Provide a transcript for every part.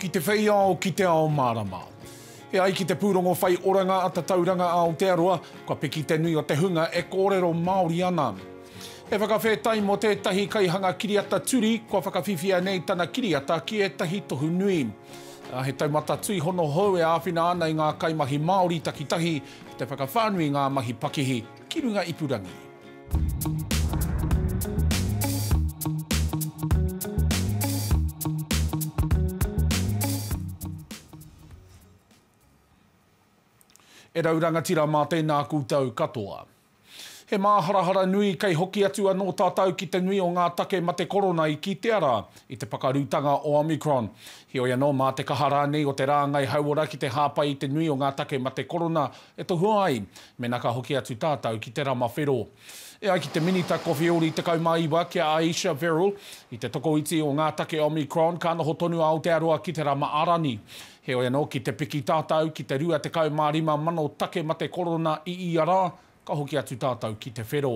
Ki te whei ao, ki te ao mārama. E ai ki te pūrongo whai oranga a Tatauranga Aotearoa, kua piki te nui o te hunga e kōrero Māori ana. He whakawhetai mō tētahi kaihanga kiriata turi, kua whakawhiwhia nei tana kiriata ki ētahi tohu nui. Ā, he taumata tuihono hou e āwhina ana i ngā kaimahi Māori takitahi ki te whakawhānui i ngā mahi pakihi. ki runga ipurangi. E rau rangatira mā tēnā koutou katoa. He māharahara nui kei hoki atu anō tātou ki te nui o ngā take mate korona i kitea rā i te pakarutanga o Omicron. Heoi anō, mā te kaha rānei o te rāngai hauora ki te hāpai i te nui o ngā take mate korona, E tohua ai, mena ka hoki atu tātou ki te rama whero. E ai ki te Minita Kowheori 19 ki a Ayesha Verrall, i te tokoiti o ngā take Omicron ka noho tonu a Aotearoa ki te rama ā-rangi. Heoi anō, ki te piki tātou ki te 25 mano take mate korona i ia rā, ka hoki atu tātou ki te whero.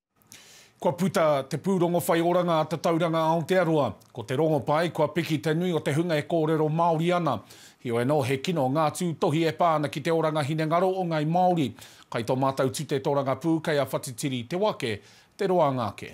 Kua puta te pūrongo whai oranga a Tatauranga Aotearoa. Ko te rongopai, kua piki te nui o te hunga e kōrero Māori ana. Heoi anō, he kino ngā tūtohi e pā ana ki te oranga hinengaro o Ngāi Māori. Kai tō mātou tute tōrangapū, kei a Whatitiri te wake, te roanga ake.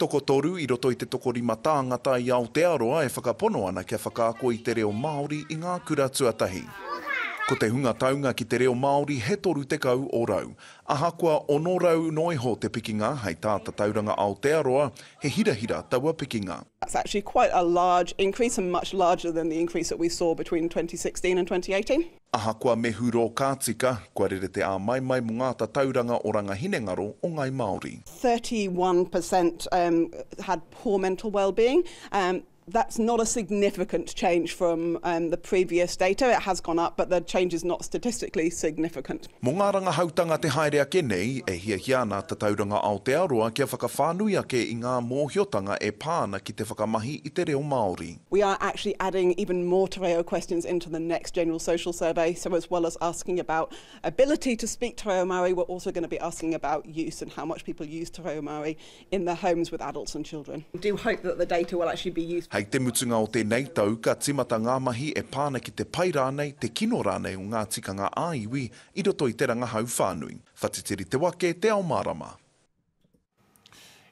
Tokotoru i roto i te tokorima tāngata i Aotearoa e whakapono ana kia whakaako i te reo Māori i ngā kura tuatahi. Ko te hunga taunga ki te reo Māori he 30 o rau. Ahakoa 600 noa iho te pikinga hei tā Tatauranga Aotearoa, he hirahira taua pikinga. It's actually quite a large increase and much larger than the increase that we saw between 2016 and 2018. Ahakoa me hurō ka tika, kua rere te āmaimai mō ngā tatauranga oranga hinengaro o Ngāi Māori. 31% had poor mental wellbeing, that's not a significant change from the previous data, it has gone up but the change is not statistically significant. Mō ngā rangahautanga te haere ake nei, e hiahia ana a Tatauranga Aotearoa kia whakawhānui ake i ngā mōhiotanga e pā ana ki te whakamahi i te reo Māori. We are actually adding even more te reo questions into the next general social survey, so as well as asking about ability to speak te reo Māori, we're also going to be asking about use and how much people use te reo Māori in their homes with adults and children. We do hope that the data will actually be useful. Hei te mutunga o tēnei tau ka timata ngā mahi e pā ana ki te pai rānei, te kino rānei o ngā tikanga ā-iwi i roto i te rangahau whānui. Whatitiri te wake, te ao mārama.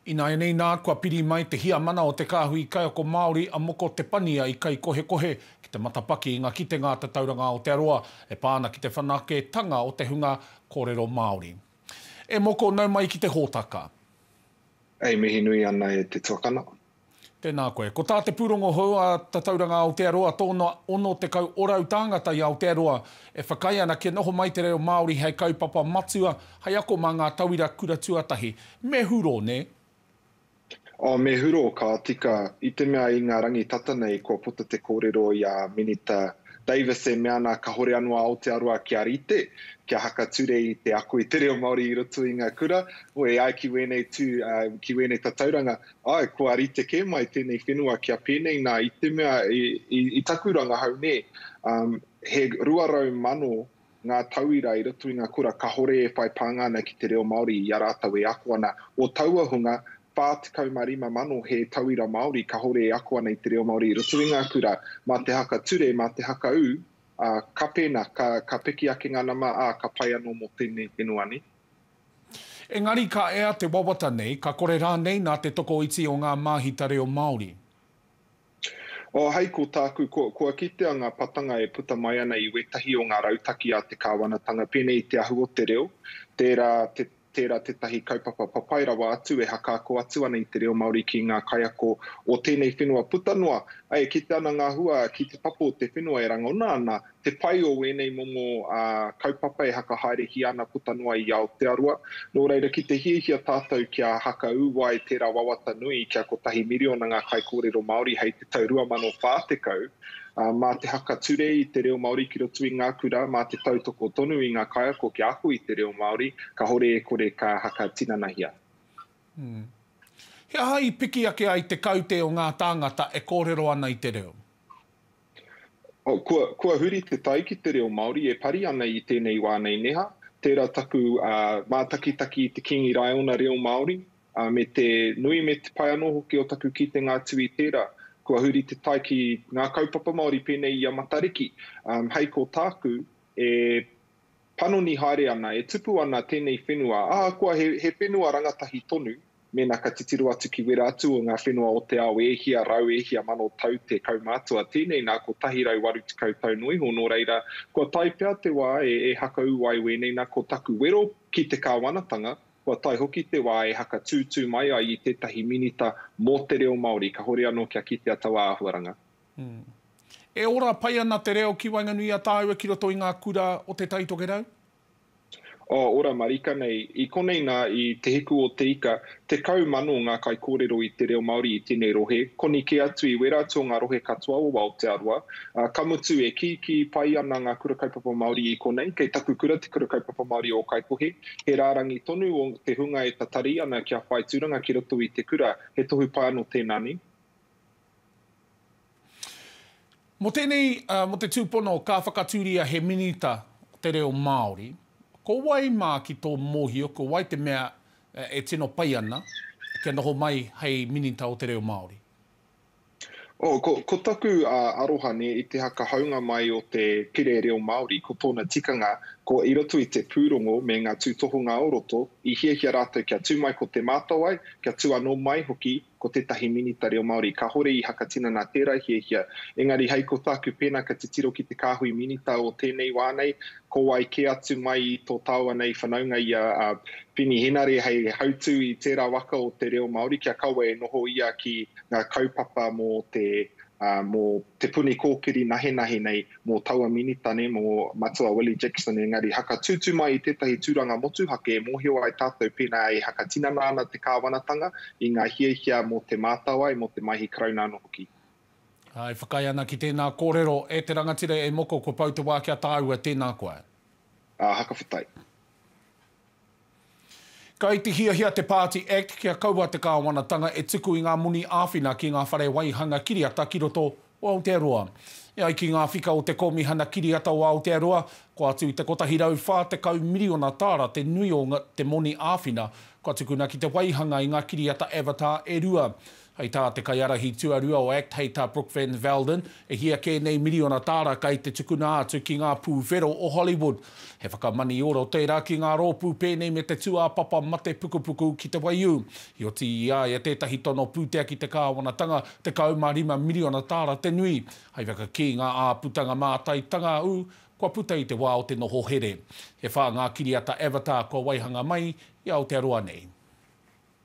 Ināianei nā, kua piri mai te Hiamana o Te Kāhui Kaiako Māori a Moko Te Pania i Kaikohekohe ki te matapaki i ngā kitenga a Tatauranga Aotearoa e pā ana ki te whanaketanga o te hunga kōrero Māori. E Moko, nau mai ki te hōtaka. E mihi nui ana e te tuakana, Tēnā koe. Ko tā te pūrongo hou a Tatauranga Aotearoa tōna 60 orau tāngata i Aotearoa e whakaae ana kia noho mai te reo Māori hei kaupapa matua hei ako mā ngā tauira kura tuatahi. Me hurō, nē? Oh, me hurō, ka tika. I te mea i ngā rangi tata nei kua puta te kōrero i a Minita Davis e mea ana kahore anō a Aotearoa kia rite, kia haka ture i te ako i te reo Māori i roto i ngā kura. Wē, e ai ki wēnei tū, ki wēnei tatauranga, Ae, kua rite ke mai tenei whenua kia penei na i te mea i taku rangahau ne, he rua rau mano nga tauira i roto i nga kura kahore e whai pānga ana ki te reo Maori i a ratou e ako ana. O taua hunga, wha tekau ma rima mano he tauira Maori kahore e ako ana i te reo Maori i roto i nga kura, ma te haka ture, ma te haka u, a, ka pena, ka piki ake nga nama, a, ka pai ano mo tenei whenua ne. Engari ka ea te wawata nei, ka kore rānei nā te tokoiti o ngā māhita reo Māori? Oh, hai ko tāku, ko, kua kitea ngā patanga e puta mai ana i wētahi o ngā rautaki a te Kāwanatanga, pēnei i te ahu o te reo, tērā, te, tērā tētahi kaupapa papai rawa atu e hakaako atu ana i te reo Māori ki ngā kaiako o tēnei whenua puta noa. Āe, e kite ana ngā hua ki te papa o te whenua e rangona ana Te pai o wēnei momo kaupapa e hakahaeretia ana puta noa i Aotearoa. Nō reira, ki te hiahia tātou kia haka ū ai tērā wawata nui kia kotahi miriona ngā kaikōrero Māori hei te tau 2040, mā te haka ture i te reo Māori ki roto i ngā kura, mā te tautoko tonu i ngā kaiako kia ako i te reo Māori, kahore e kore ka haka tinanahia. He aha i piki ake ai te kaute o ngā tāngata e kōrero ana i te reo? Oh, kua, kua huri te tai ki te reo Māori e pari ana i tēnei wā nei neha. Tērā taku uh, mātakitaki i te Kīngi Raiona reo Māori, uh, me te nui me te pai anō hoki o taku kitenga atu i tērā. Kua huri te tai ki ngā kaupapa Māori pēnei i a Matariki. Um, hei ko tāku, e panoni haere ana, e tupu ana tēnei whenua, ahakoa he, he whenua rangatahi tonu, mēnā ka titiro atu ki wera atu o ngā whenua o te ao e hia rau, e hia mano tau te kaumātua, tēnei nā 180 tau noa iho, nō reira, kua tae pea te wā e, e hakaū ai wēnei nā ko taku wero ki te kāwanatanga, kua tae hoki te wā e hakatūtū mai ai i tētahi minita mō te reo Māori, kahore anō kia kitea taua āhuaranga. E ora pai ana te reo ki waenganui i a tāua ki roto i ngā kura o Te Tai Tokerau? Oh, ora marika nei. I konei nā, i Te Hiku o Te Ika, tekau mano ngā kaikōrero i te reo Māori i tēnei rohe, koni kē atu i wērā atu o ngā rohe katoa o Aotearoa. Ā, ka mutu, e kīkī pai ana ngā Kura Kaupapa Māori i konei. Kei taku kura te Kura Kaupapa Māori o Ōkaikohe. He rārangi tonu o te hunga e tatari ana kia whai tūranga ki roto i te kura, he tohu pai anō tēnā nei. Mō tēnei, mō te tūpono ka whakatūria he Minita o te Reo Māori, ko wai mā ki tō mōhio, ko wai te mea e tino pai ana kia noho mai hei Minita o te Reo Māori? Oh, ko, ko taku aroha nei i te hakahaunga mai o te Pire Reo Māori, ko tōna tikanga, ko i roto i te pūrongo me ngā tūtohunga o roto, i hiahia rātou kia tū mai ko Te Mātawai, kia tū anō mai hoki ko tētahi Minita Reo Māori kāore i hakatinana tērā hiahia, engari hei ko tāku pēnā ka titiro ki te kāhui Minita o tēnei wā nei, ko wai kē atu mai i tō tāua nei whanaunga i a Whini Henare hei hautū i tērā waka o te reo Māori kia kaua e noho ia ki ngā kaupapa mō te puni kōkiri nahenahe nei. mō taua Minita nei, mō Matua Willie Jackson, engari haka tūtū mai i tētahi tūranga motuhake e mōhio ai tātou pēnā e hakatinana ana te kāwanatanga i ngā hiahia mō te mātāwai, mō te Maihi Karauna anō hoki. Ā, e whakaae ana ki tēnā kōrero, E te rangatira e moko, kua pau te wā ki a tāua, tēnā koe. Ā, haka whetai. Kai te hiahia te Party Act kia kaua te kāwanatanga e tuku i ngā moni āwhina ki ngā whare waihanga kiriata ki roto o Aotearoa. E ai ki ngā whika o te Kōmihana Kiriata o Aotearoa, kua atu i te 140 miriona tāra te nui o te moni āwhina kua tukuna ki te waihanga i ngā kiriata Avatar e rua. Hei tā te kaiārahi tuarua o act hei tā Brooke Van Velden, e hia kē nei miriona tāra kei te tukuna atu ki ngā pūwhero o Hollywood. He whakamanioro tērā ki ngā rōpū pēnei me te tūāpapa mate pukupuku ki te waiū. Heoti i a ia tētahi tono pūtea ki te kāwanatanga, 15 miriona tāra te nui. Hei whakakī ngā āputanga mātaitanga ū, kua puta i te wā o te noho here. E whā ngā kiriata Avatar kua waihanga mai i Aotearoa nei.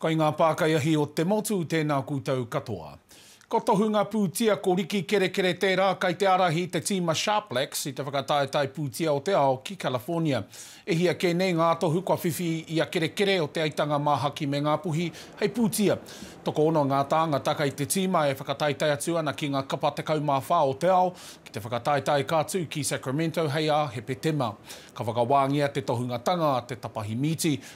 Kai ngā pākaiahi o te motu tēnā koutou katoa. Ko Tohunga Pūtia, ko Riki Kerekere tērā kai te ārahi i te tīma Sharplex i te whakataetae pūtia o te ao ki California. E hia kē nei ngā tohu kua whiwhi i a Kerekere o Te Aitanga Māhaki me Ngāpuhi hei pūtia. Tokoono ngā tāngata kai te tīma e whakataetae atu ana ki ngā kapa 14 o te ao ki te whakataetae ka tū ki Sacramento hei ā Hepetema. Ka whakawāngia te tohungatanga a te tapahi mīti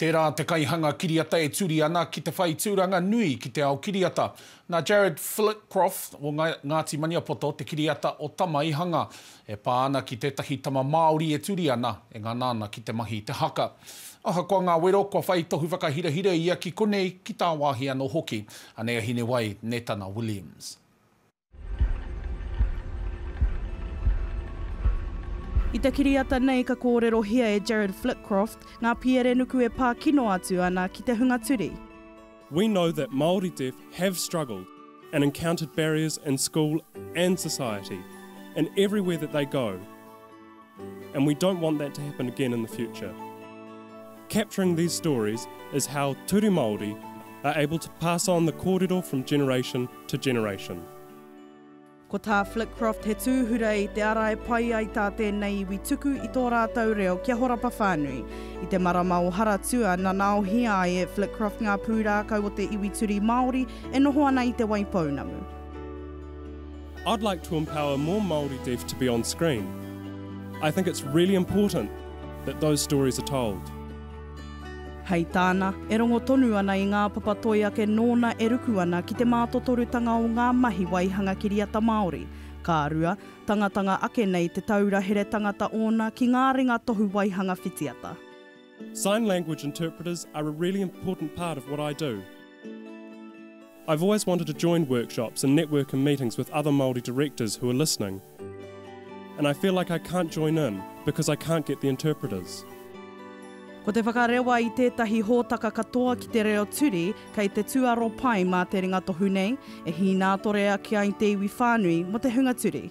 Tērā te kaihanga kiriata e turi ana ki te whai tūranga nui ki te ao kiriata. Nā Jared Flitcroft o Ngāti Maniapoto te kiriata o Tama i hanga, e pā ana ki tētahi tama Māori e turi ana, e ngana ana ki te mahi i te haka. Ahakoa ngā wero, kua whai tohu whakahirahira ia ki konei, ki tāwāhi anō hoki. Anei a Hinewai, Netana Williams. I te kiriata nei ka kōrerohia e Jarrad Flitcroft ngā pierenuku e pā kino atu ana ki te hunga turi. We know that Māori deaf have struggled and encountered barriers in school and society and everywhere that they go. and we don't want that to happen again in the future. Capturing these stories is how Turi Māori are able to pass on the kōrero from generation to generation. Ko tā Flitcroft he tūhura i te ara e pai ai tā tēnei iwi tuku i tō rātou reo kia horapa whānui. I te marama o Haratua, nanaohia ai e Flitcroft ngā pūrākau o te iwi Turi Māori e noho ana i Te Waipounamu. I'd like to empower more Māori deaf to be on screen. I think it's really important that those stories are told. Hei tāna, e rongo tonu ana i ngā papa toi ake nōna e ruku ana ki te mātotorutanga o ngā mahi waihanga kiriata Māori. Ka rua, tangatanga ake nei te taura here tangata ōna ki ngā ringa tohu waihanga whitiata. Sign language interpreters are a really important part of what I do. I've always wanted to join workshops and network in meetings with other Māori directors who are listening and I feel like I can't join in because I can't get the interpreters. Ko te whakarewa i tētahi hōtaka katoa ki te reo turi kei te tūaro pai mā te ringatohu nei e hīnātore ake ai te iwi whānui mō te hunga turi.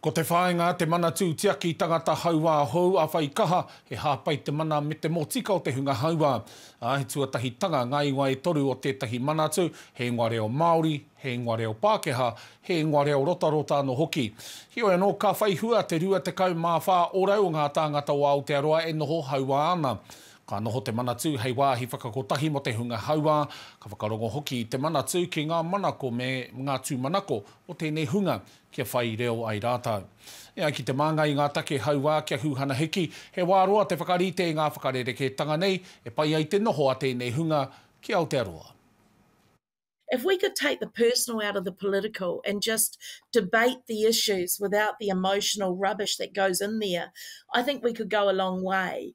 Ko te whāinga, te manatū tiaki tangata hauā hou a Whaikaha, he hāpai te mana me te motika o te hunga hauā. Ā, he tuatahitanga ngā ingoa e toru o tētahi manatū, he ingoa reo Māori, he ingoa reo Pākehā, he ingoa reo rotarota anō hoki. Heoi anō, ka whai hua te 24 ōrau o ngā tāngata o Aotearoa e noho hauā ana. Ka noho te manatū hei wāhi whakakotahi mō te hunga hauā, ka whakarongo hoki i te manatū ki ngā manako me ngā tūmanako o tēnei hunga, kia whai reo ai rātou. E ai ki te Māngai i ngā take hauā kia huhana hiki, he wā roa te whakarite i ngā whakarerekētanga nei e pai ai te noho a tēnei hunga ki Aotearoa. If we could take the personal out of the political and just debate the issues without the emotional rubbish that goes in there, I think we could go a long way.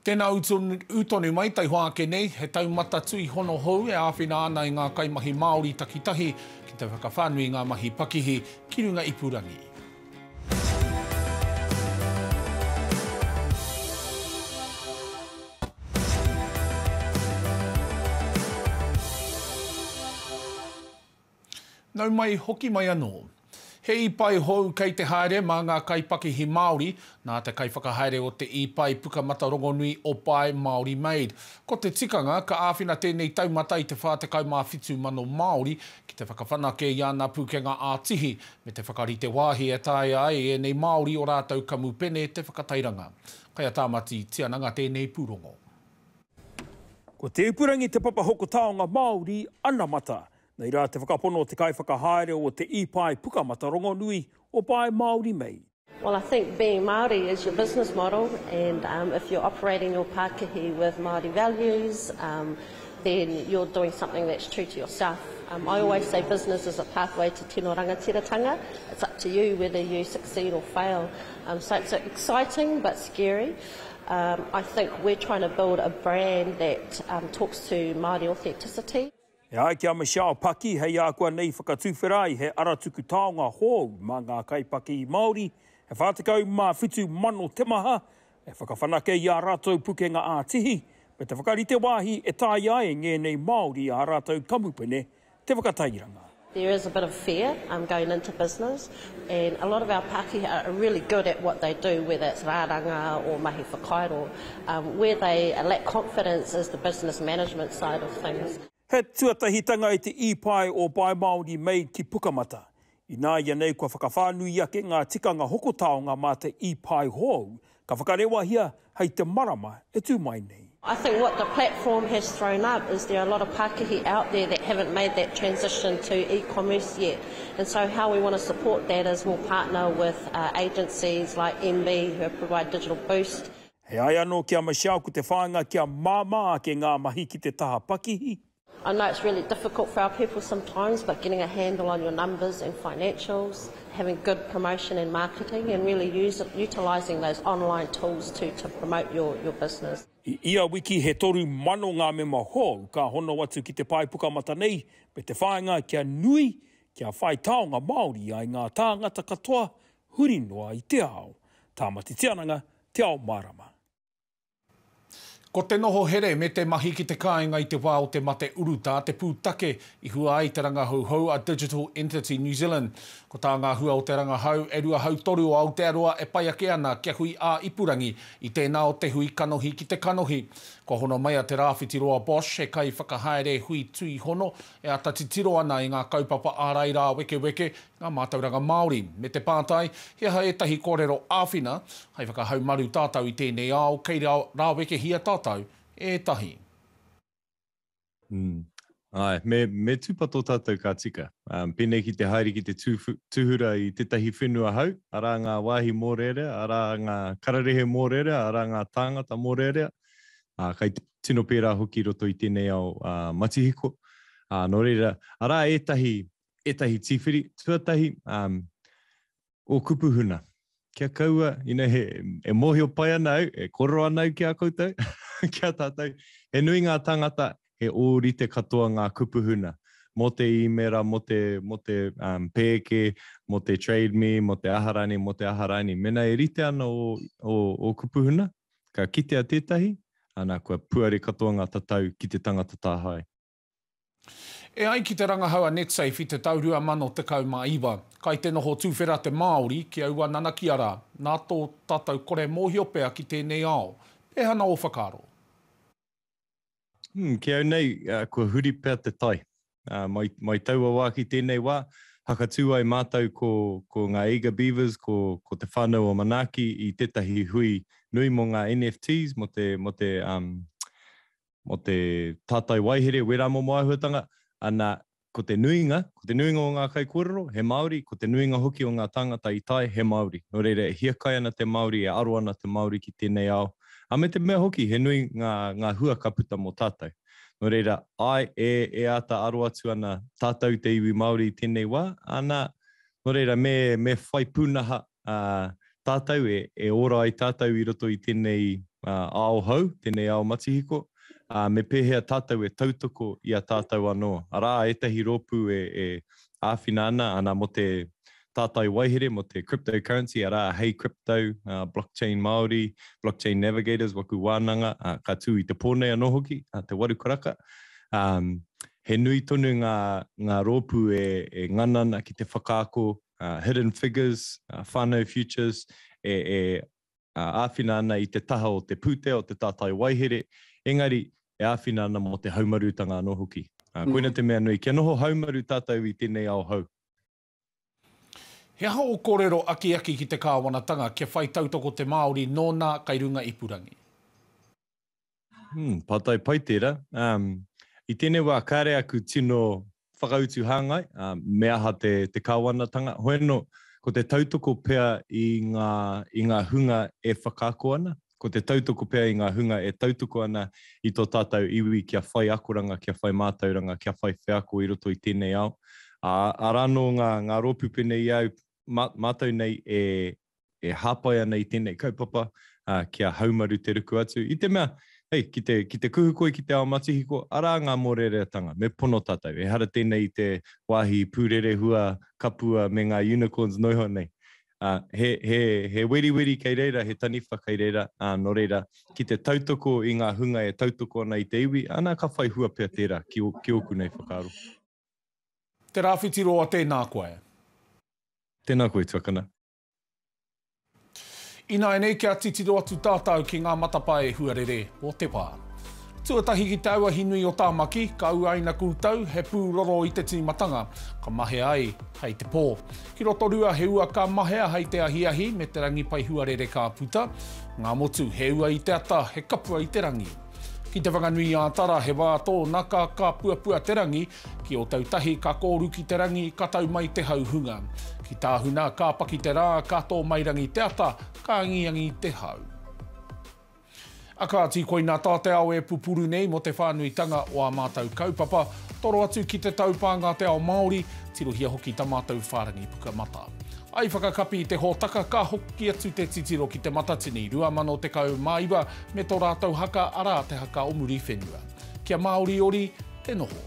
Tēnā ū tonu mai taihoa ake nei, he taumata tuihono hou e āwhina ana i ngā kaimahi Māori takitahi ki te whakawhānui i ngā mahi pakihi ki runga ipurangi. Nau mai, hoki mai anō. He īpae hou kei te haere mā ngā kaipakihi Māori, nā te kaiwhakahaere o te īpae Pukamata Rongonui o Pae Māori Made. Ko te tikanga, ka āwhina tēnei taumata i te 47,000 Māori ki te whakawhanake i ana pūkenga ā-tihi, me te whakarite wāhi e taea ai ēnei Māori o rātou kamupene te whakatairanga. Kai a Tāmati Tiananga tēnei pūrongo. Ko Te Ipurangi te papa hoko taonga Māori anamata. Nei rā te whakapono o te kaiwhakahaere o te Ipae Pukamata Rongonui o Pae Māori Mei. Well I think being Māori is your business model and if you're operating your pākihi with Māori values then you're doing something that's true to yourself. I always say business is a pathway to tino rangatiratanga, it's up to you whether you succeed or fail. So it's exciting but scary. I think we're trying to build a brand that talks to Māori authenticity. E ai ki a Michelle Paki, hei ākuanei whakatuwhera ai he aratuku taonga hou mā ngā kaipakī Māori e 47 mano te maha, e whakawhanake i ā rātou pukenga ā-tihi, me te whakarite wāhi e taea ai ngēnei Māori ā rātou kamupene te whakatairanga. There is a bit of fear going into business And a lot of our Pakeha are really good at what they do, whether it's rāranga or mahi whakairo. Where they lack confidence is the business management side of things. He tuatahitanga i te īpae o Buy Māori Made ki Pukamata. Ināianei kua whakawhānui ake ngā tikanga hoko taonga mā te īpae hou Ka whakarewahia hei te marama e tū mai nei. I think what the platform has thrown up is there are a lot of pākihi out there that haven't made that transition to e-commerce yet and so how we want to support that is we'll partner with agencies like MB who provide digital boost. E ai anō ki a Michelle ko te whāinga kia māmā ake ngā mahi ki te taha pakihi, I know it's really difficult for our people sometimes but getting a handle on your numbers and financials, having good promotion and marketing and really utilising those online tools to to promote your your business. I ia wiki he toru mano ngā mema hou ka hono atu ki te pae pukamata nei me te whāinga kia nui, kia whai taonga Māori ai ngā tāngata katoa huri noa i te ao. Tāmati Tiananga, Te Ao Mārama. Ko te noho here me te mahi ki te kāinga i te wā o te mate urutā te pūtake i hua ai te rangahouhou a Digital Entity New Zealand. Ko tā ngā hua o te rangahau e rua hautoru o Aotearoa e pai ake ana kia hui ā-ipurangi i tēnā o te hui kanohi ki te kanohi. Kua hono mai a Te Rāwhiti Roa Bosch, he kaiwhakahaere hui tuihono e ata titiro ana i ngā kaupapa ārai rāwekeweke ngā mātauranga Māori, me te pātai he aha ētahi kōrero āwhina hai whakahaumaru tātou i tēnei ao kei rāwekehia tātou ētahi. Āe, me, me tūpato tātou ka tika. Pēnei ki te haere ki te tūhura i tētahi whenua hau, arā ngā wāhi mōrearea, arā ngā kararehe mōrearea, arā ngā tāngata mōrearea, ā, kai tino pērā hoki i roto i tēnei ao matihiko. Ā, nō reira, arā ētahi ētahi tīwhiri tuatahi um, o kupu huna. Kia kaua, you know, he, e mōhio pai ana au, e koro ana au ki a koutou, ki a tātou. He nui ngā tangata, he ōrite katoa ngā kupu huna. Mō te īmera, mō te, mō te um, pēke, mō te trade me, mō te aharani, mō te aharani. Mena e rite ana o, o, o kupu huna, ka kitea tētahi, ana kua puare katoa ngā tatau ki te tangata tāhae. E ai ki te rangahau a Netsafe i te tau 2019, kai te noho tuwhera te Māori ki aua nanakia rā, nā tō tātou kore mōhio pea ki tēnei ao. Pēhana ō whakaaro? Umm, ki au nei, kua huri pea te tai. Mai, mai taua wā ki tēnei wā, whakatū ai mātou ko, ko ngā Eager Beavers, ko, ko te whānau o Manaaki i tētahi hui nui mō ngā NFTs, mō te, mō te, umm, mō te tātai waehere wera momo āhuatanga, ana, ko te nuinga, ko te nuinga o ngā kaikōrero, he Māori, ko te nuinga hoki o ngā tāngata i tae, he Māori. Nō reira, e hiakai ana te Māori, e aro ana te Māori ki tēnei ao, ā, me te mea hoki, he nui ngā, ngā hua ka puta mō tātou. Nō reira, āe, e, e āta aro atu ana tātou te iwi Māori i tēnei wā, ana, nō reira, me, me whai pūnaha ā, tātou e, e ora ai tātou i roto i tēnei ao hou, tēnei ao matihiko, ā, me pēhea tātou e tautoko i a tātou anō. Arā ētahi rōpū e, e āwhina ana, ana mō te tātai waihere, mō te cryptocurrency, arā, Hey Crypto, ā, Blockchain Māori, Blockchain Navigators, Waku Wānanga, ā, ka tū i te pō nei anō hoki, ā, te waru karaka. Ā, he nui tonu ngā, ngā rōpū e, e ngana ana ki te whakaako uh, Hidden Figures, uh, Whānau Futures, e, e uh, āwhina ana i te taha o te pūtea, o te tātai waihere, engari e āwhina ana mō te haumarutanga anō hoki. Uh, mm. Koina te mea nui, kia noho haumaru tātou i tēnei ao hau. He aha o kōrero akiaki ki te kāwanatanga kia whai tautoko te Māori nō nā kai runga ipurangi? Hmm, pātai pai tērā. Um, I tēnei wā, kāre aku tino whakautu hāngai, uh, me aha te, te kāwanatanga. Hoeno, ko te tautoko pea i ngā, i ngā hunga e whakaako ana, ko te tautoko pea i ngā hunga e tautoko ana i tō tātou iwi kia whai akoranga, kia whai mātauranga, kia whai wheako i roto i tēnei ao. Ā, arā nō ngā, ngā rōpū pēnei i au, mā, mātou nei e, e hāpai ana i tēnei kaupapa, ā, kia haumaru te ruku atu, i te mea, hei, ki te, ki te kuhu koe ki te ao matihiko, arā ngā mōreareatanga, me pono tātou, ehara tēnei i te wāhi pūrerehua, kapua, me ngā unicorns noa iho nei. Ā, he, he, he weriweri kei reira, he taniwha kei reira, ā, nō reira, ki te tautoko i ngā hunga e tautoko ana i te iwi, ana ka whai hua pea tērā ki, ki ōku nei whakaaro. Te Rawhiti Roa Tēnā koe. Tēnā koe Tuakana. Ināianei kia titiro atu tātau ki ngā matapae huarere o te wā. Tuatahi ki te auahi nui o Tāmaki, ka uaina koutou he pū roro i te tīmatanga, ka mahea ai hei te pō. Ki Rotorua he ua ka mahea hei te ahiahi me te rangi pai huarere ka puta. Ngā motu he ua i te ata, he kapua i te rangi. Ki Te Whanganui-ā-Tara he wā tōnaka ka puapua te rangi, ki Ōtautahi ka kōru ki te rangi ka tau mai te hau hunga. Ki Tāhuna ka paki te rā ka tō mai rangi te ata, ka angiangi te hau. A kāti koina tā te ao e pupuru nei mō te whānuitanga o ā mātou kaupapa, toro atu ki te taupānga te ao Māori, tirohia hoki ta mātou whārangi pukamata. I whakakapi te hōtaka ka hoki atu te titiro ki te Matatini 2019 me tō rātou haka, arā, te haka o Muriwhenua. Kia māoriori te noho.